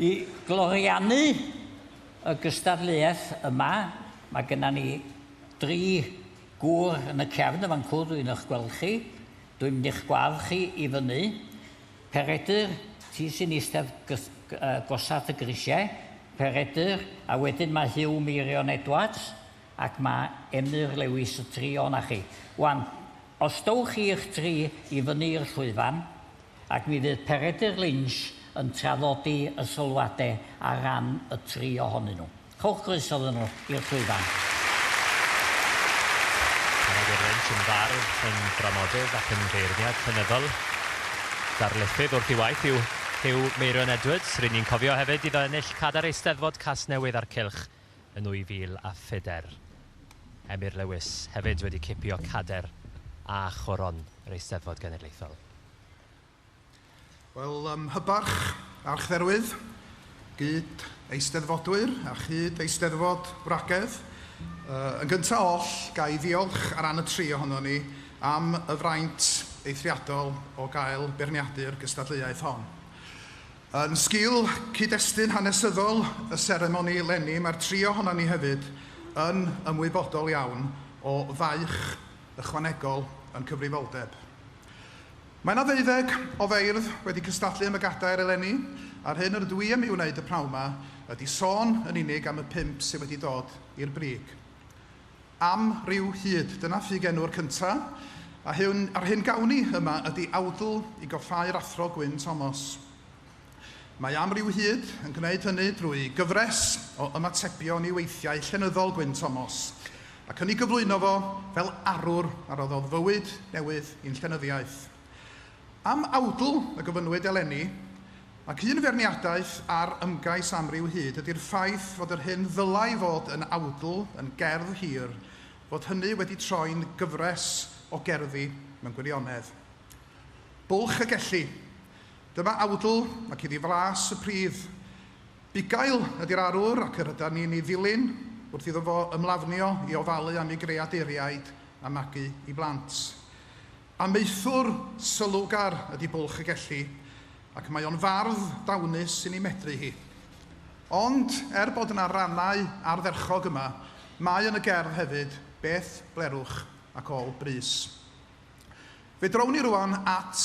I gloriannu y gystadleuaeth yma, mae genna ni dri gŵr yn y cefn yn fancŵr, dwi'n eich gweld chi, dwi'n mynd i'ch gwadd chi i fyny. Peredur, ti sy'n eistedd gosat y grisiau, Peredur, a wedyn mae Huw Meirion Edwards ac mae Emyr Lewis y tri o'na chi. Wan, os dowch chi y'ch tri i fyny i'r llwyfan, ac mi fydd Peredur Lynch yn traddodi y sylwadau ar ran y tri ohonyn nhw. Rhowch groeso iddyn nhw i'r llwyfan. Peredur Lynch yn fardd, yn dramodydd ac yn beirniad llenyddol. Darlithydd wrth ei waith yw Huw Meirion Edwards. Rŷn ni'n cofio hefyd iddo ennill cadar Eisteddfod Casnewydd a'r Cylch yn 2004. Emyr Lewis hefyd wedi cipio cader a choron yr Eisteddfod Genedlaethol. Wel, ym Mhybarch, Archdderwydd, gyd Eisteddfodwyr a chyd Eisteddfod Wragedd, yn gyntaf oll, ga i ddiolch ar ran y tri ohonon ni am y fraint eithriadol o gael beirniadu'r gystadleuaeth hon. Yn sgil cyd-destun hanesyddol y seremoni leni mae'r tri ohonon ni hefyd yn ymwybodol iawn o faich ychwanegol ein cyfrifoldeb. Mae 'na ddeuddeg o feirdd wedi cystadlu am y gadair eleni a'r hyn yr ydw i am ei wneud y pnawn 'ma ydi sôn yn unig am y pump sydd wedi dod i'r brig. Am ryw hyd, dyna ffug enw'r cynta, a hyn, a'r hyn gawn ni yma ydi awdl i goffáu'r Athro Gwyn Tomos. Mae Am ryw hyd yn gwneud hynny drwy gyfres o ymatebion i weithiau llenyddol Gwyn Tomos, ac yn ei gyflwyno fo fel arwr a roddodd fywyd newydd i'n llenyddiaeth. Am awdl y gofynnwyd eleni, ac un feirniadaeth ar ymgais amryw hyd ydy'r ffaith fod yr hyn ddylai fod yn awdl yn gerdd hir, fod hynny wedi troi'n gyfres o gerddi mewn gwirionedd. Bwlch y Gelli. Dyma awdl ac iddi fras y pridd. Bugail ydy'r arwr ac yr ydan ni'n ei ddilyn wrth iddo fo ymlafnio i ofalu am ei greadeuriaid a magu i blant. Amaethwr sylwgar ydi Bwlch y Gelli ac mae o'n fardd dawnus sy'n ei medru hi. Ond, er bod yna rannau ardderchog yma, mae yn y gerdd hefyd beth blerwch ac ôl brys. Fe drown ni rŵan at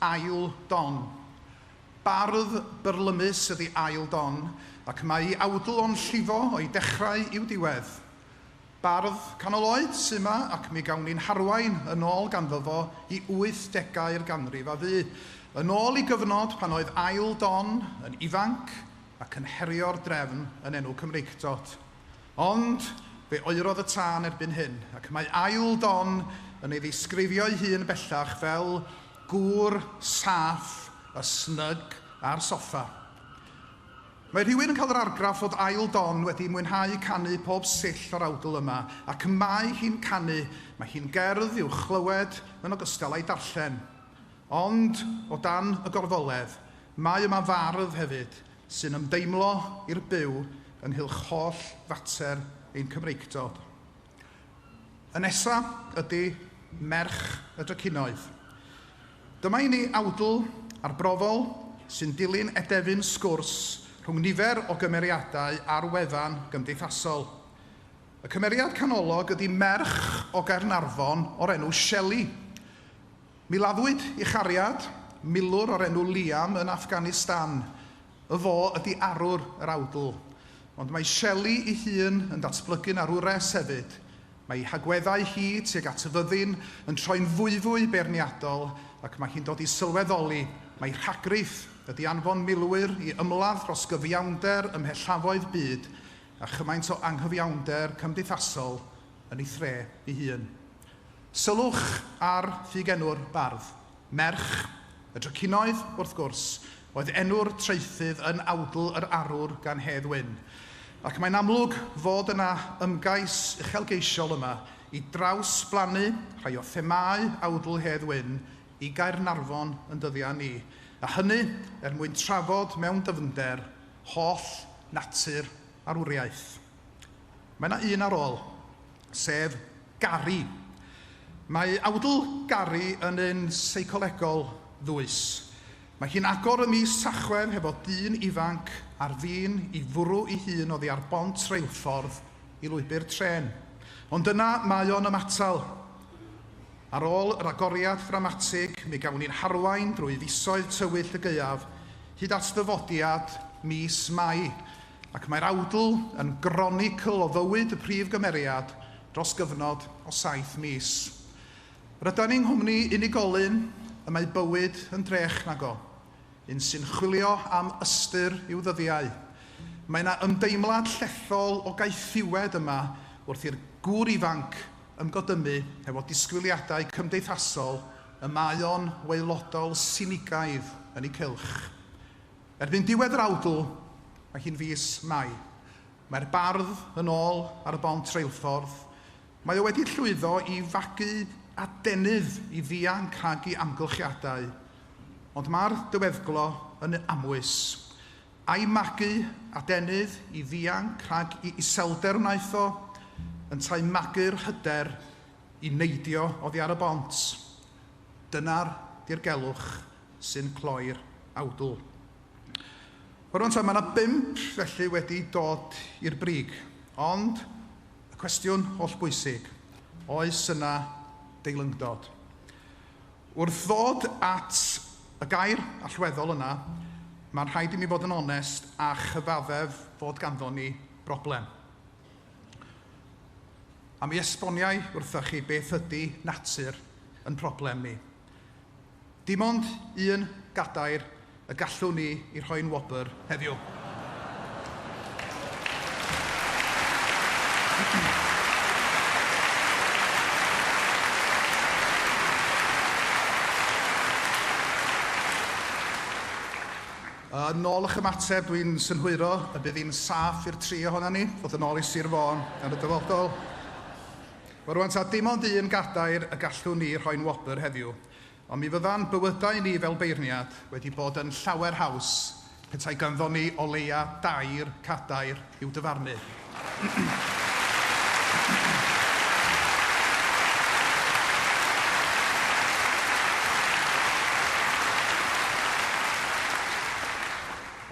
Ail Don. Bardd byrlymus ydi Ail Don ac mae awdl o'n llifo o'i dechrau i'w diwedd. Bardd canol oed sy 'ma ac mi gawn ni'n harwain yn ôl ganddo fo i wythdegau'r ganrif a fu, yn ôl i gyfnod pan oedd ail don yn ifanc ac yn herio'r drefn yn enw Cymreictod. Ond, fe oerodd y tân erbyn hyn, ac mae ail don yn ei ddisgrifio'i hun bellach fel 'gŵr saff a snug ar soffa'. Mae rhywun yn cael yr argraff fod ail don wedi mwynhau canu pob sill o'r awdl yma, ac y mae hi'n canu, mae hi'n gerdd i'w chlywed yn ogystal â'i darllen. Ond, o dan y gorfoledd, mae yma fardd hefyd, sy'n ymdeimlo i'r byw ynghylch holl fater ein Cymreictod. Y nesa ydi merch y drycinoedd. Dyma i ni awdl arbrofol sy'n dilyn edefyn sgwrs rhwng nifer o gymeriadau ar wefan gymdeithasol. Y cymeriad canolog ydi merch o Gaernarfon o'r enw Shelley. Mi laddwyd i chariad, milwr o'r enw Liam yn Afghanistan Y fo ydi arwr yr awdl, ond mae Shelley ei hun yn datblygu'n arwres hefyd, mae ei hagweddau hi tuag at y fyddin yn troi'n fwyfwy beirniadol ac mae hi'n dod i sylweddoli mai rhagrith ydi anfon milwyr i ymladd dros gyfiawnder ymhellefoedd byd a chymaint o anghyfiawnder cymdeithasol yn ei thre ei hun. Sylwch ar ffugenw'r bardd. Merch, y Dracinoedd, wrth gwrs, oedd enw'r traethydd yn awdl yr arwr gan Hedd Wyn, ac mae'n amlwg fod yna ymgais uchelgeisiol yma i drawsblannu rhai o themâu awdl Hedd Wyn i Gaernarfon yn dyddiau ni, a hynny er mwyn trafod mewn dyfnder holl natur arwriaeth. Mae 'na un ar ôl, sef Gary. Mae awdl Gary yn un seicolegol ddwys. Mae hi'n agor ym mis Tachwedd hefo dyn ifanc ar fin i fwrw ei hun oddi ar bont reilffordd i lwybr trên. Ond yna mae o'n ymatal. Ar ôl yr agoriad ddramatig, mi gawn ni'n harwain drwy fisoedd tywyll y gaeaf hyd at ddyfodiad mis Mai. Ac mae'r awdl yn gronicl o fywyd y prif gymeriad dros gyfnod o saith mis. Rydan ni yng nghwmni unigolyn y mae bywyd yn drech nag o, un sy'n chwilio am ystyr i'w ddyddiau. Mae 'na ymdeimlad llethol o gaethiwed yma wrth i'r gŵr ifanc ymgodymu hefo disgwyliadau cymdeithasol y mae o'n waelodol sinigaidd yn eu cylch. Erbyn diwedd yr awdl, mae hi'n fis Mai, mae'r bardd yn ôl ar y bont reilffordd, mae o wedi llwyddo i fagu adenydd i ddianc rhag i amgylchiadau, ond mae'r dyweddglo yn amwys, ai magu adenydd i ddianc rhag i iselder wnaeth o, yntau magu'r hyder i neidio oddi ar y bont? Dyna'r dirgelwch sy'n cloi'r awdl. Rŵan ta, mae yna bump felly wedi dod i'r brig, ond y cwestiwn hollbwysig, oes yna deilyngdod? Wrth ddod at y gair allweddol yna, mae'n rhaid i mi fod yn onest a chyfaddef fod ganddo ni broblem. A mi esboniai wrthoch chi beth ydy natur yn problem ni. Dim ond un gadair y gallwn ni i rhoi'n wobr heddiw. Yn ôl eich ymateb, dwi'n synhwyro y bydd hi'n saff i'r tri ohonan ni fod yn ôl i Sir Fôn yn y dyfodol. Wel, rwan ta, dim ond un gadair y gallwn ni rhoi'n wobr heddiw, ond mi fydda'n bywydau ni fel beirniad wedi bod yn llawer haws petai ganddon ni o leia dair cadair i'w dyfarnu.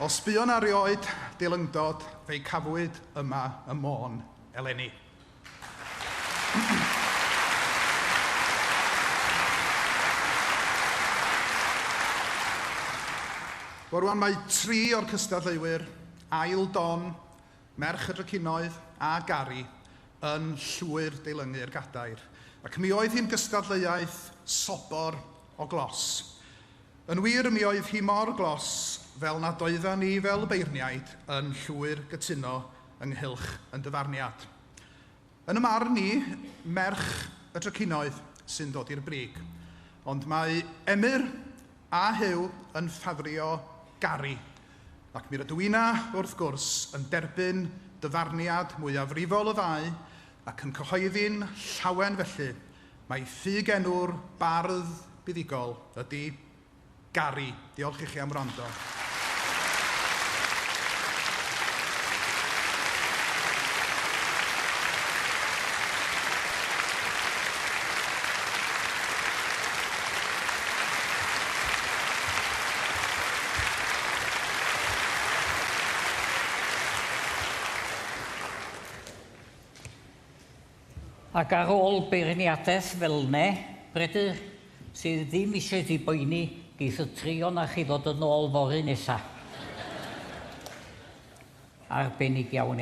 O sbïo na rioed, delyngdod, fe'i cafwyd yma ym Môn eleni. Wel rwan mae tri o'r cystadleuwyr, Ail Don, Merch y Drycinoedd a Gari, yn llwyr deilyngu'r gadair, ac mi oedd hi'n gystadleuaeth sobor o glos. Yn wir, mi oedd hi mor glos fel nad oeddan ni fel beirniaid yn llwyr gytuno ynghylch yn dyfarniad. Yn y marn ni, merch y trycinoedd sy'n dod i'r brig. Ond mae Emyr a Huw yn ffafrio Gary, ac mi rydw inna, wrth gwrs, yn derbyn dyfarniad mwyafrifol y ddau ac yn cyhoeddi'n llawen felly mai ffug enw'r bardd buddugol ydi Gary, diolch i chi am wrando. Ac ar ôl beirniadaeth fel 'ne, Bredyr, sy ddim eisiau ti boeni, geith y trio 'na chi ddod yn ôl fory nesa. Arbennig iawn, iawn.